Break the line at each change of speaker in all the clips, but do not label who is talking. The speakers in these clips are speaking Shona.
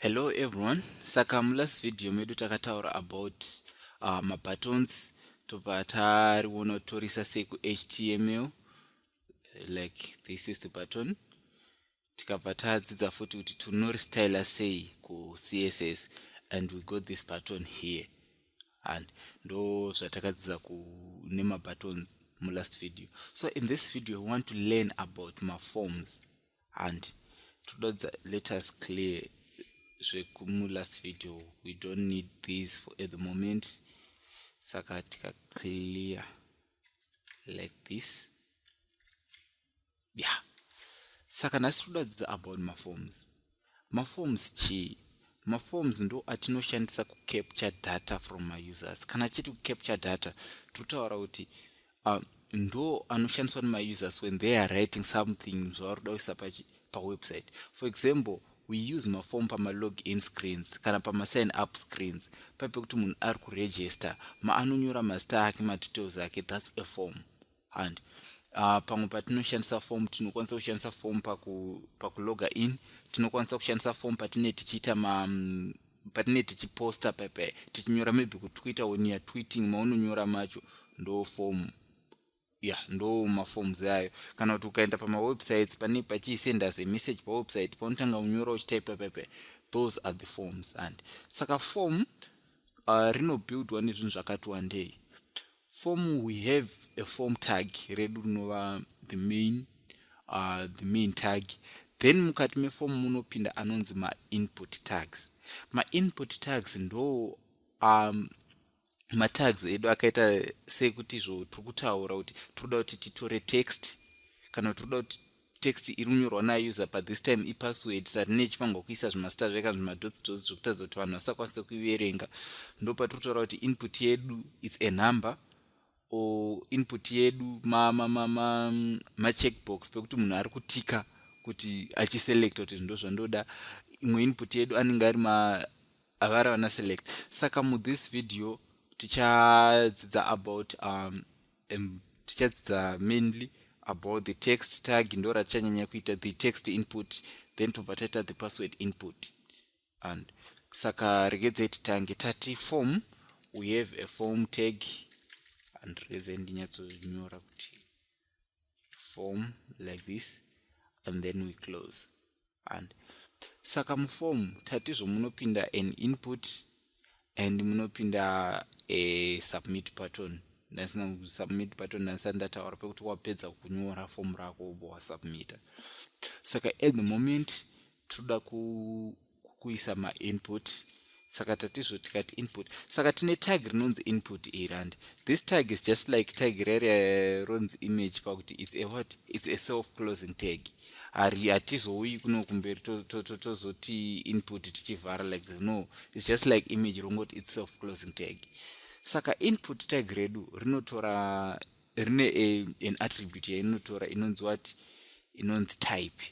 hello everyone saka mulast video medu takataura about uh, mabuttons tobva tariona torisa sei kuhtml like this is the button tikabva tadzidza futi kuti tinoristyla sei kucss and we got this button here and ndo zvatakadzidza nemabuttons mulast video so in this video we want to learn about maforms and todadza let us clear zvekumulast video we don't need these for at the moment saka tikaclear like this yeah saka nhasi todadzidza about maforms maforms chii maforms ndo atinoshandisa kucapture data from mausers kana tichiti kucapture data totaura kuti uh, ndo anoshandiswa nemausers when they are writing something zvavari kuda kuisa pawebsite for example we use maform pamalog in screens kana pamasign up screens pape kuti munhu ari kuregister maanonyora mazita ake madetails ake thats a form and uh, pamwe patinoshandisa form tinokwanisa kushandisa form paku, pakuloga in tinokwanisa kushandisa form patine tichiita ma mm, patine tichiposta pepe tichinyora maybe kutwitter when youare tweeting maunonyora macho ndo form ya ndo maforms ayo kana kuti ukaenda pamawebsites pane pachisend as a message pawebsite paunotanga unyora uchitaipa pepe those are the forms and saka form uh, rinobuildwa nezvinhu zvakati wandei form we have a form tag redu rinova the main uh, the main tag then mukati meform munopinda anonzi mainput tags mainput tags ndo um, matags edu akaita sekuti izvo tiri kutaura kuti tiri kuda kuti titore text kana tiri kuda kuti text iri kunyorwa nauser but this time ipassword saka tine chifanirwa kuisa zvimasita zveka zvimadotsi dotsi zvekutadza kuti vanhu vasakwanise kuiverenga ndo patiri kutaura kuti input yedu its a number or input yedu macheckbox ma, ma, ma pekuti munhu ari kutika kuti achiselecta kuti zvindo zvandoda imwe input yedu anenge ari ma avari vana select saka muthis video tichadzidza about um, um, tichadzidza mainly about the text tag ndo ratichanyanya kuita the text input then tobva taita the password input and saka regedzai titange tati form we have a form tag and regedzai ndinyatsonyora kuti form like this and then we close and saka muform tatizvo munopinda an input and munopinda a submit button ndasina kusubmit button ndasina ndataura pekuti wapedza kunyora form rako ubva wasubmita saka at the moment toda ku kuisa mainput saka tatizvo tikati input saka tine tag rinonzi input iri and this tag is just like tag rere ronzi image pakuti its a what its a self closing tag hari hatizouyi kuno kumberi tozoti input tichivhara like this no its just like image rongoti its self closing tag saka input tag redu rinotora rine an attribute yainotora inonzi wati inonzi type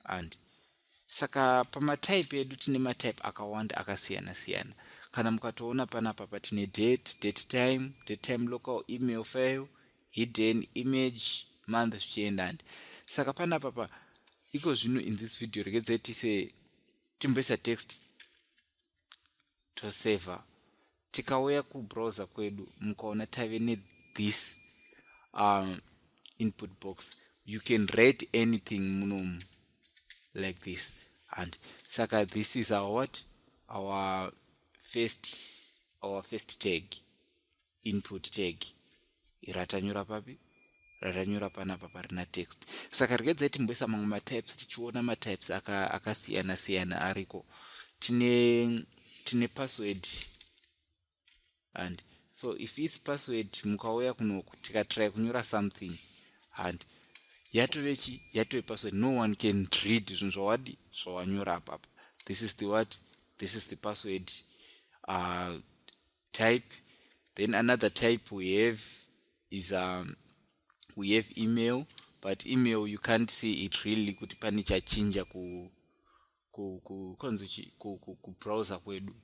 and saka pamatype edu tine matype akawanda akasiyana siyana kana mukatoona panapa patine date date time date time local email file hidden image month zvichienda ndi saka panapa pa iko zvino in this video regedzai tise timboisa text tosaver tikauya kubrowser kwedu mukaona tave nethis um, input box you can rate anything munomu like this and saka this is our what our first our first tag input tag ratanyura papi ratanyura panapa parina text saka rikedzai timboisa mamwe matypes tichiona matypes akasiyana aka siyana ariko tine tine password and so if its password mukauya kunoku tikatry kunyura something and yatove chi yatove password no one can read zvinhu zvawadi zvawanyura apapa this is the what this is the password uh, type then another type we have is um, we have email but email you can't see it really kuti pane chachinja ku kubrowser kwedu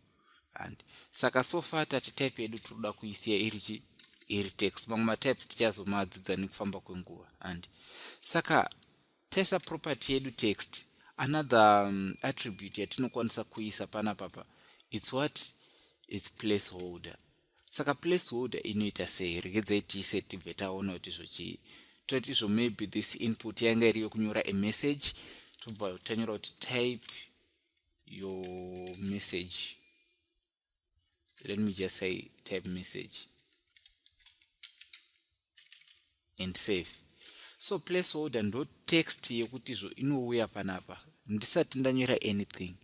and saka so far tati type yedu tinoda kuisiya iri chi iri text mamwe matypes tichazomadzidza nekufamba kwenguva and saka Taisa property yedu text another um, attribute yatinokwanisa kuisa pana papa its what its placeholder saka placeholder inoita sei regedzai tiise tibve taona kuti zvochii toti izvo maybe this input yanga iri yokunyora a message tobva tanyora kuti type your message let me just say type message and save so place order ndo text yekuti zvo inouya panapa ndisati ndanyora anything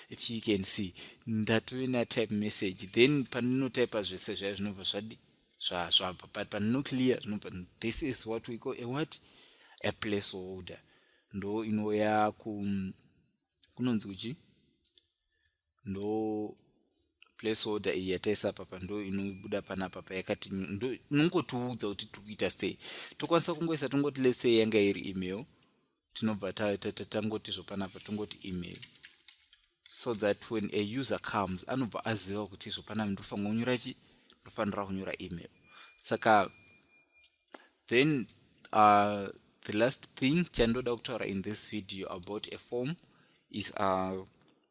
if you can see ndatove na type message then pandinotypa zvese zvaya zvinobva zvadi zvabva but pandino clear zvinobva this is what we call a what a place order ndo inouya ku kunonzi kuchii ndo place order iyi yataisa papa ndo inobuda panapa payakati inongotiudza kuti tiri kuita sei tokwanisa kungoisa tongoti lesei yanga iri email tinobva tangoti zvopanapa tongoti email so that when a user comes anobva aziva kuti zvopanapa ndofanira kunyora chi ndofanira kunyora email saka then uh, the last thing chandoda kutaura in this video about a form is uh,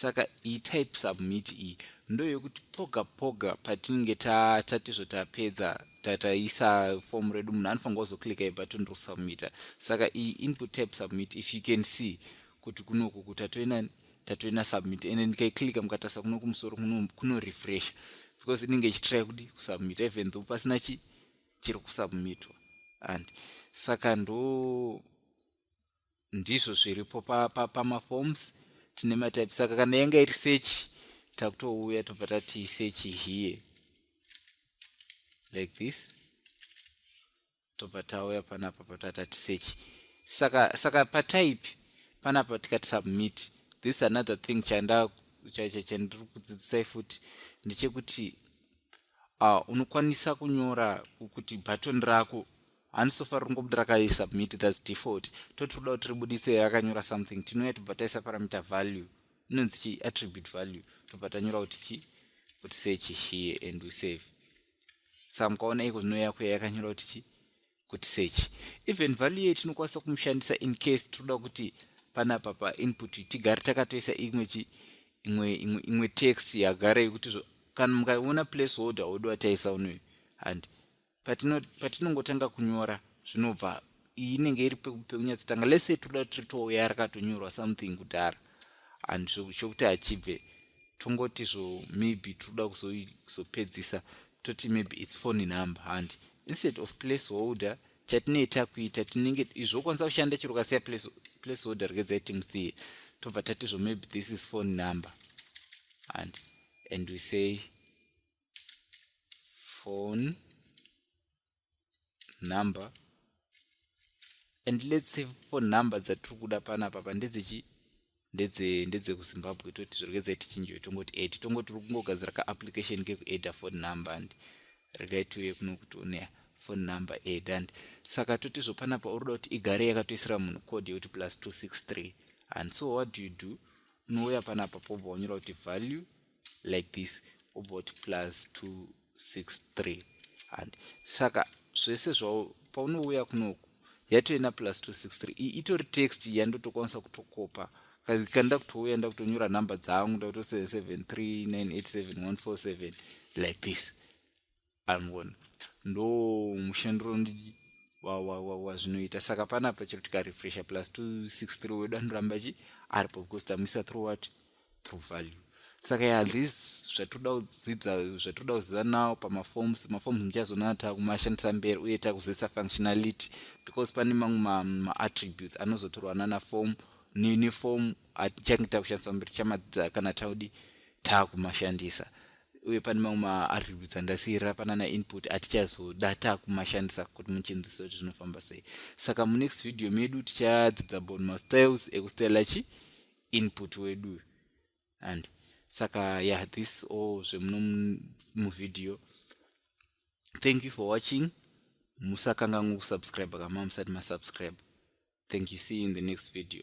saka iyi type submit iyi ndoyekuti poga poga patinenge tatizvo tapedza tataisa fomu redu munhu anofanirwa kuzoclicka ibutton rokusubmita saka iyi input type submit if you can see kuti kunoku ku tatoina tatoina submit ende ndikaiclicka mukatasa kuno kumusoro kunorefresha because inenge ichitry kudi kusubmita even though pasina chi chiri kusubmitwa and saka ndo ndizvo zviripo pamaforms pa, pa tine matype saka kana yanga iri search takutouya tobva tati search here like this tobva tauya panapa patatati search saka saka patype panapa tikati submit this is another thing chanda chandiri kudzidzisai futi ndechekuti uh, unokwanisa kunyora kuti button rako handi sofa riri kungobuda rakaisubmit thats default toti toda kuti ribudise rakanyora something tinouya tobva taisa parameter value inonzi chii attribute value tobva tanyora kuti chii kuti search here and we save sa mukaona iko zvinouya kuya yakanyora kuti chii kuti search even value yei tinokwanisa kumushandisa in case tinoda kuti panapa painput tigare takatoisa imwe chi imwe imwe text yagara yekuti kana mukaona place holder wodo wataisa unoyo handi patinongotanga patino kunyora zvinobva iyi inenge iri pekunyatsotanga lese toda tiri touya rakatonyorwa something kudhara and chokuti hachibve tongoti zvo maybe toda kuzopedzisa toti maybe its phone number handi instead of place holder chatinee takuita tinenge izvokwanisa kushanda chiro kasiya place holder rgedzai timusiye tobva tati zvo maybe this is phone number and and we say phone number and let's say phone number dzatiri kuda panapa pa ndedzechi ndedze ndedze kuzimbabwe toti zvirikudza tichinjiwe tongoti ed tongoti tiri kungogadzira ka application kekueda phone number and regai tiuye kuno kuti une phone number ed and saka toti zvo panapa urikuda kuti igare yakatoisira munhu code yekuti plus 263 and so what do you do unouya panapa pobva wanyora kuti value like this obva uti plus 263 handi saka zvese zvao paunouya kunoku yatoina plus 263 iyi itori text yandotokwanisa kutokopa kanda kutouya ndakutonyora number dzangu ndakuto 77398714 like this anogona ndo mushandiro wazvinoita saka panapa chero tikarefresha plus 263 wedu anoramba chi aripo because tamuisa through what through value saka ya this zvatinoda kudzidza zvatinoda kuziva nawo pamaforms maforms muchazonana takumashandisa mberi uye takuzivisa functionality because pane mamwe maattributes anozotorwa nana form neform atichange takushandisa mberi chamadzidza kana taudi takumashandisa uye pane mamwe maattributes andasiira panana input atichazoda takumashandisa kuti muchinzwisa kuti zvinofamba sei saka munext video medu tichadzidza about mastyles ekustyla chi input wedu and saka ya yeah, this all zvemuno muvideo thank you for watching musakanganwa kusubscribe kama musati masubscribe thank you see you in the next video